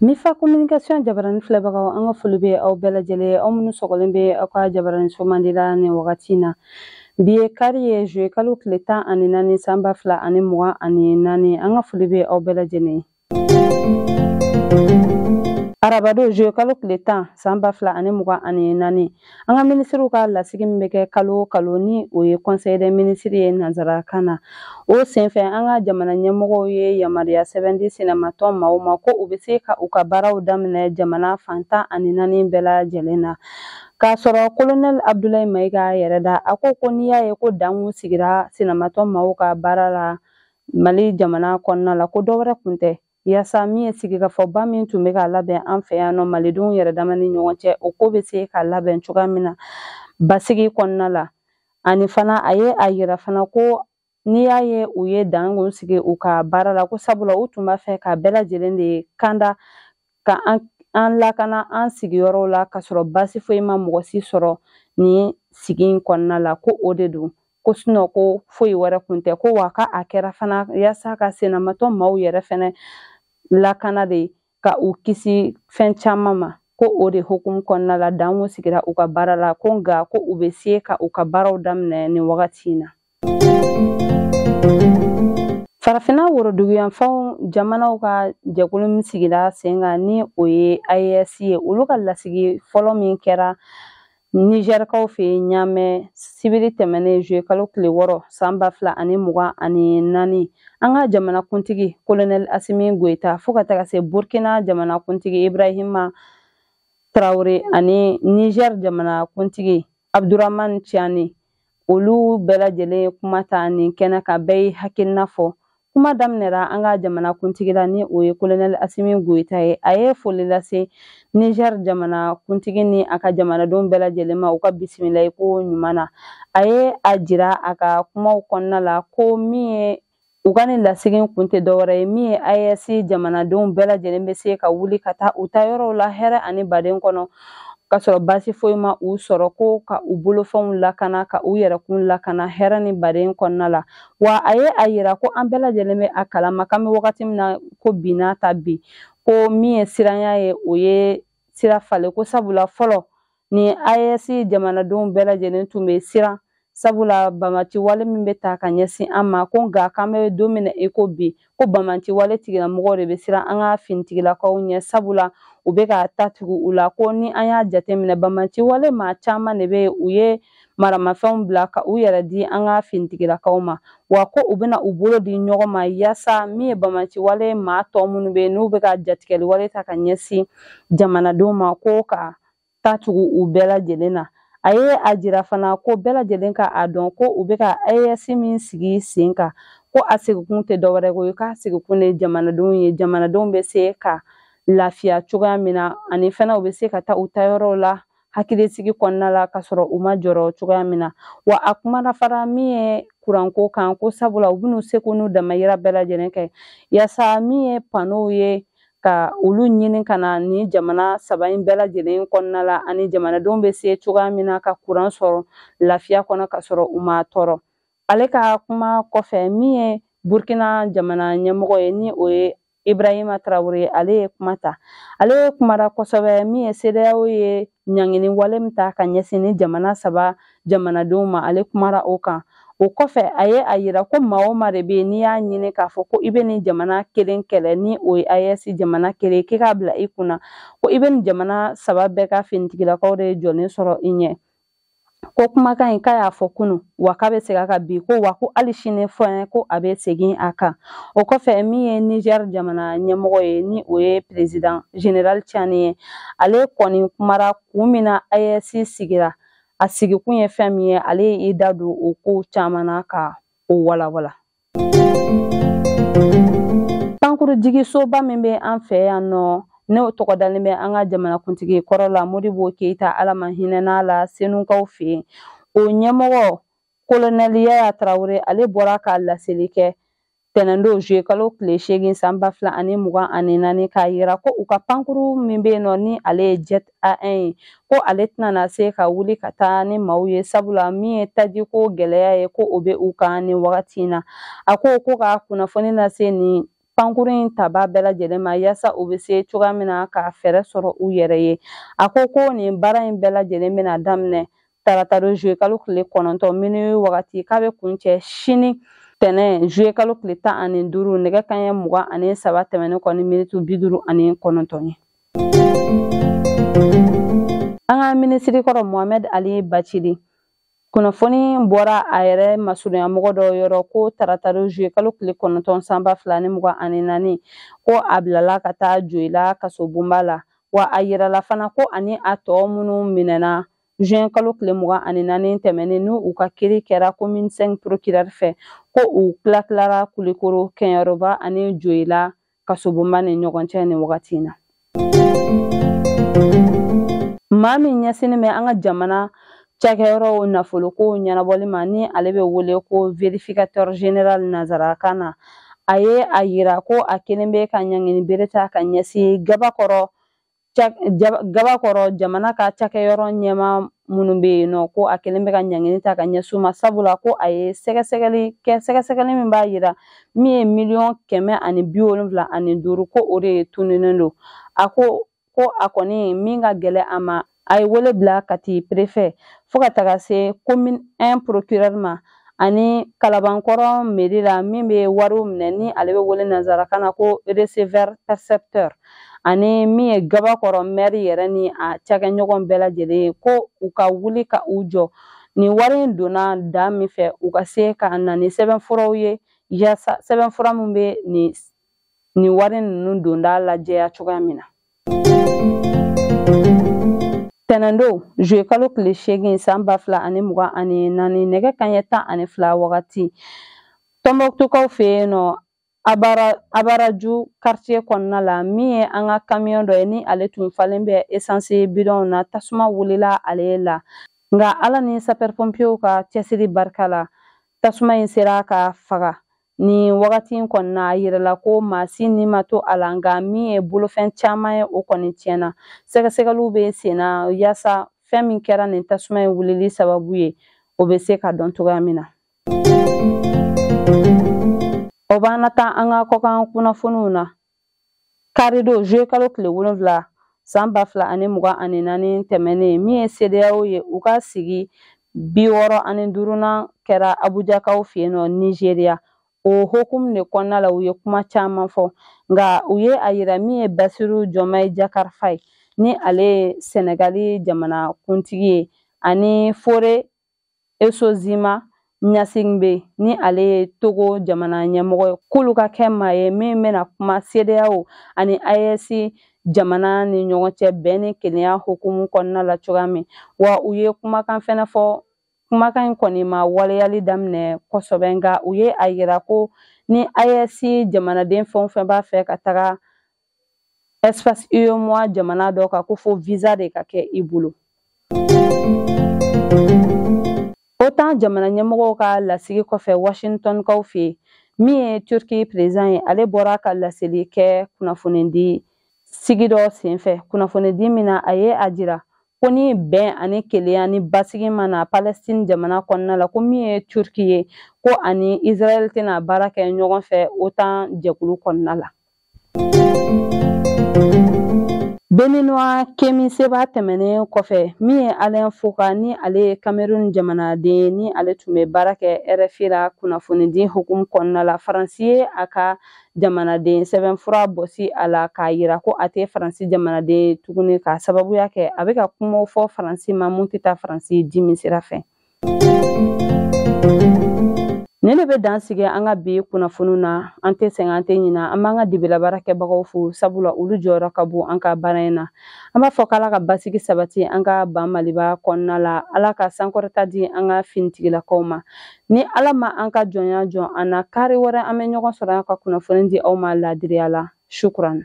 Mifa communication jabarani filɛbagaw an ka foli bɛ aw bɛɛ lajɛlen aw minnu sɔgɔlen bɛ aw ka jabaraniso mandi la nin wagati in na bi ye kari ye zuye kalo tile tan ani naani san ba fila ani mugan ani naani an ka foli bɛ aw bɛɛ lajɛlen arabado zuye kalo tile tan san ba fila ani mugan ani naani an ka minisiriw ka lasigi min bɛ kɛ kalo o kalo ni o ye conseil des ministres ye nansarakan na o senfɛ an ka jamana ɲɛmɔgɔw ye yamaruya sɛbɛn di sinamatɔn maaw ma ko u bɛ se ka u ka baaraw daminɛ jamana fan tan ani naani bɛɛ lajɛlen na K'a sɔrɔ kolonɛli Abudulayi Mayiga yɛrɛ da, a ko ko n'i y'a ye ko dan kun sigira sinamatɔn maaw ka baara la Mali jamana kɔnɔna la, ko dɔ wɛrɛ kun tɛ, yaasa min ye sigikafɔba min tun bɛ ka labɛn an fɛ yan nɔ malidenw yɛrɛdama ni ɲɔgɔn cɛ, o ko bɛ se ka labɛn cogoya min na basigi kɔnɔna la, ani fana a ye a yira fana ko n'i y'a ye u ye dan kun sigi u ka baara la ko sabula u tun b'a fɛ ka bɛɛ lajɛlen de kanda ka an lakana an sigiyɔrɔw la k'a sɔrɔ baasi foyi ma mɔgɔ si sɔrɔ nin sigi in kɔnɔna la ko o de don ko sinɔ ko foyi wɛrɛ kun tɛ ko wa ka a kɛra fana yaasa ka sinamatɔn maaw yɛrɛ fɛnɛ lakana de ka u kisi fɛn caman ma ko o de hukumu kɔnɔna la dan kun sigira u ka baara la ko nka ko u bɛ se ka u ka baaraw daminɛ nin wagati in na farafinna woroduguyanfanw jamanaw ka jɛkulu min sigira sen kan ni o ye AES ye olu ka lasigi fɔlɔ min kɛra nizɛrikaw fɛ yen ɲaamɛ sibiri tɛmɛnen zuye kalo tile wɔɔrɔ san ba fila ani mugan ani naani an ka jamanakuntigi kolonɛli asimi goyita fo ka taga se burkina jamanakuntigi ibrahima traore ani nizɛri jamanakuntigi abduraman ciyani olu bɛɛ lajɛlen kuma ta nin kɛnɛ kan bɛɛ ye hakilina fɔ kuma daminɛra an ka jamana kuntigi la ni o ye kolonɛli asimi goyita ye a ye foli lase niger jamana kuntigi ni a ka jamanadenw bɛɛ lajɛlen ma u ka bisimilali ko ɲuman na a ye a jira a ka kumaw kɔnɔna la ko min ye U ka nin lasigi in kun tɛ dɔwɛrɛ ye min ye AES jamanadenw bɛɛ lajɛlen bɛ se ka wuli ka taa u taa yɔrɔw la hɛrɛ ani baden kɔnɔ ka sɔrɔ baasi foyi ma u sɔrɔ ko ka u bolofɛnw lakana ka u yɛrɛkun lakana hɛrɛ ni baden kɔnɔna la wa a ye a yira ko an bɛɛ lajɛlen bɛ a kalama k'an bɛ wagati min na ko bi n'a ta bi ko min ye siranya ye o ye sira falen ko sabula fɔlɔ ni AES jamanadenw bɛɛ lajɛlen tun bɛ siran sabula banbaanci wale min bɛ ta ka ɲɛsin an ma ko nka k'an bɛ don min na i ko bi ko banbaanci wale tigilamɔgɔw de bɛ siran an ka finitigilakaw ɲɛ sabula u bɛ ka ta tugu u la ko ni an y'a jateminɛ banbaanci wale maa caman de bɛ yen u ye maramafɛnw bila ka u yɛrɛ di an ka finitigilakaw ma wa ko u bɛna u bolo di ɲɔgɔn ma yaasa min ye banbaanci wale maa tɔ minnu bɛ yen n'u bɛ ka jatigɛli wale ta ka ɲɛsin jamanadenw ma ko ka ta tugu u bɛɛ lajɛlen na a ye a jira fana ko bɛɛ lajɛlen ka a dɔn ko u bɛ ka AES min sigi sen kan ko a sigikun tɛ dɔwɛrɛ ko ye k'a sigikun de jamanadenw ye jamanadenw bɛ se ka lafiya cogoya min na ani fana u bɛ se ka taa u taayɔrɔw la hakilisigi kɔnɔna la ka sɔrɔ u ma jɔrɔ cogoya min na wa a kumana fana min ye kuranko kan ko sabula u bɛn'u seko n'u damayira bɛɛ lajɛlen kɛ yaasa min ye panow ye ka olu ɲini ka na ni jamana saba in bɛɛ lajɛlen kɔnɔna la ani jamanadenw bɛ se cogoya min na ka kuran sɔrɔ lafiya kɔnɔ ka sɔrɔ u ma tɔɔrɔ ale ka kuma kɔfɛ min ye burkina jamana ɲɛmɔgɔ ye ni o ye ibrahima tarawele ye ale ye kuma ta ale ye kumara kosɛbɛ min ye CEDEAO ye ɲangini wale min ta ka ɲɛsin ni jamana saba jamanadenw ma ale kumara o kan o kɔfɛ a ye a yira ko maa o maa de bɛ yen n'i y'a ɲini k'a fɔ ko i bɛ nin jamana kelen kɛlɛ ni o ye AES jamana kelen k'i k'a bila i kunna ko i bɛ nin jamana saba bɛɛ ka finitigilakaw de jɔlen sɔrɔ i ɲɛ ko kumakan in k'a y'a fɔ kunun wa k'a bɛ segin a kan bi ko wa ko hali sini fɛnɛ ko a bɛ segin a kan o kɔfɛ min ye niger jamana ɲɛmɔgɔ ye ni o ye president general tiani ye ale kɔni kumara kun min na AES sigira a sigikun ye fɛn min ye ale y'i da don o kow caman na ka o walawala jigisoba min bɛ an fɛ yan nɔ n'o tɔgɔ dalen bɛ an ka jamanakuntigi kɔrɔ la modibo keyita ala ma hinɛna a la senukaw fɛ yen o ɲɛmɔgɔ kolonɛli yaya tarawele ale bɔra ka laseli kɛ tɛnɛndon zuye kalo tile seegin san ba fila ani mugan ani naani k'a yira ko u ka pankuru min bɛ yen nɔ ni ale ye jet A un ye ko ale tɛna se ka wuli ka taa ni maaw ye sabula min ye tajiko gɛlɛya ye ko o bɛ u kan ni wagati in na a ko ko ka kunnafoni lase nin pankurun in tabaa bɛɛ lajɛlen ma yaasa u bɛ se cogoya min na ka fɛɛrɛ sɔrɔ u yɛrɛ ye a ko ko nin baara in bɛɛ lajɛlen bɛna daminɛ tarata don zuye kalo tile kɔnɔntɔn minuit wagati k'a bɛ kuncɛ sini tɛnɛn zuye kalo tile tan ani duuru nɛgɛ kanɲɛ mugan ani saba tɛmɛnen kɔ ni miniti bi duuru ani kɔnɔntɔn ye an ka minisiri kɔrɔ mohamɛd ali bacili kunnafoni bɔra a yɛrɛ masurunyamɔgɔ dɔ yɔrɔ ko taratadon zuye kalo tile kɔnɔntɔn san ba fila ni mugan ani naani ko a bilala ka taa joyila kasobonba la wa a yirala fana ko ani a tɔ minnu minɛna juin kalo tile mugan ani naani tɛmɛnen ni u ka kiri kɛra komini 5 procureur fɛ ko u tilatilara kulikoro kɛnyɛrɔba ani joyila kasobonba ni ɲɔgɔn cɛ nin wagati in na maa min ɲɛsinnen bɛ an ka jamana cakɛyɔrɔw nafoloko ɲɛnabɔli ma ni ale bɛ wele ko verificateur general nazarakan na a ye a yira ko a kɛlen bɛ ka ɲangini bere ta ka ɲɛsin gabakɔrɔ gabakɔrɔ jamana ka cakɛyɔrɔ ɲɛmaa minnu bɛ yen nɔ ko a kɛlen bɛ ka ɲangini ta ka ɲɛsin u ma sabula ko a ye sɛgɛsɛgɛli kɛ sɛgɛsɛgɛli min b'a yira min ye miliyɔn kɛmɛ ani bi wolonwula ani duuru ko o de ye tununnen don a ko ko a kɔni min ka gɛlɛn a ma a ye wele bila kati perefe fo ka taga se komini 1 procureur ma ani kalabankɔrɔ meri la min bɛ wariw minɛ ni ale bɛ wele nanzarakan na ko receveur percepteur ani min ye gabakɔrɔ mɛri yɛrɛ ni a cakɛɲɔgɔn bɛɛ lajɛlen ye ko u ka wuli ka u jɔ nin wari in donna da min fɛ u ka se ka na ni sɛbɛnfuraw ye yaasa sɛbɛnfura min bɛ nin nin wari ninnu donda lajɛya cogoya min na tɛnɛndon zuye kalo tile seegin san ba fila ani mugan ani naani nɛgɛ kanɲɛ tan ani fila wagati tɔnbɔkutukaw fɛ yen nɔ abaraju karitiye kɔnɔna la min ye an ka kamiyɔn dɔ ye ni ale tun falen bɛ esansi bidɔnw na tasuma wulila ale la nka ala ni sapɛripɔnpiyew ka cɛsiri barika la tasuma in sera ka faga Nin wagati in kɔni na a yirala ko maa si ni ma to a la nka min ye bolofɛn caman ye o kɔni tiɲɛna sɛgɛsɛgɛliw bɛ sen na yaasa fɛn min kɛra nin tasuma in wulili sababu ye o bɛ se ka dɔn cogoya min na o b'an na taa an ka kɔkan kunnafoniw na Karidon zuye kalo tile wolonwula san ba fila ani mugan ani naani tɛmɛnen min ye sedeyaw ye u ka sigi bi wɔɔrɔ ani duurunan kɛra abujakaw fɛ yen nɔ nizeriya o hokumu de kɔnɔna la u ye kuma caman fɔ nka u ye a yira min ye basiru jɔmayi jakari fayi ni ale ye sɛnɛgali jamana kuntigi ye ani fore esozima ɲasingbe ni ale ye togo jamana ɲɛmɔgɔ ye k'olu ka kɛ maa ye min bɛna kuma sedeyaw ani aes jamana ni ɲɔgɔn cɛ bɛn ni kelenya hukumu kɔnɔna la cogoya min wa u ye kumakan fɛnɛ fɔ kumakan in kɔni ma waleyali daminɛ kosɛbɛ nka u ye a yira ko ni aes jamanaden fɛn o fɛn b'a fɛ ka taga espace UEMOA jamana dɔ kan ko fo visa de ka kɛ i bolo. OTAN jamana ɲɛmɔgɔw ka lasigi kɔfɛ Washingtonkaw fɛ yen, min ye Turki président ye, ale bɔra ka laseli kɛ kunnafonidi sigi dɔ senfɛ. Kunnafonidi min na, a ye a jira ko ni bɛn ani kelenya ni basigi ma na Palestine jamana kɔnɔna la, ko min ye Turki ye, ko ani Israel tɛna baara kɛ ɲɔgɔn fɛ OTAN jɛkulu kɔnɔna la. Béninois Kemi Seba tɛmɛnen kɔfɛ min ye Alain Foka ni ale ye Cameroun jamanaden ye ni ale tun bɛ baara kɛ RFI la kunnafonidi hukumu kɔnɔna la Faransi ye a ka jamanaden sɛbɛnfura bɔsi a la k'a yira ko a tɛ Faransi jamanaden ye tuguni k'a sababuya kɛ a bɛ ka kumaw fɔ Faransi ma mun tɛ taa Faransi dimi sira fɛ. nin de bɛ dan sigi an ka bi kunnafoniw na an tɛ sɛgɛn an tɛ ɲina an b'an ka dibi la baarakɛbagaw fo sabula olu jɔyɔrɔ ka bon an ka baara in na an b'a fɔ k'ala ka basigi sabati an ka ban maliba kɔnɔna la ala ka sankɔrɔta di an ka finitigilakaw ma ni ala ma an ka jɔnya jɔn an na kari wɛrɛ an bɛ ɲɔgɔn sɔrɔ an ka kunnafoni di aw ma laadiriya la shukuran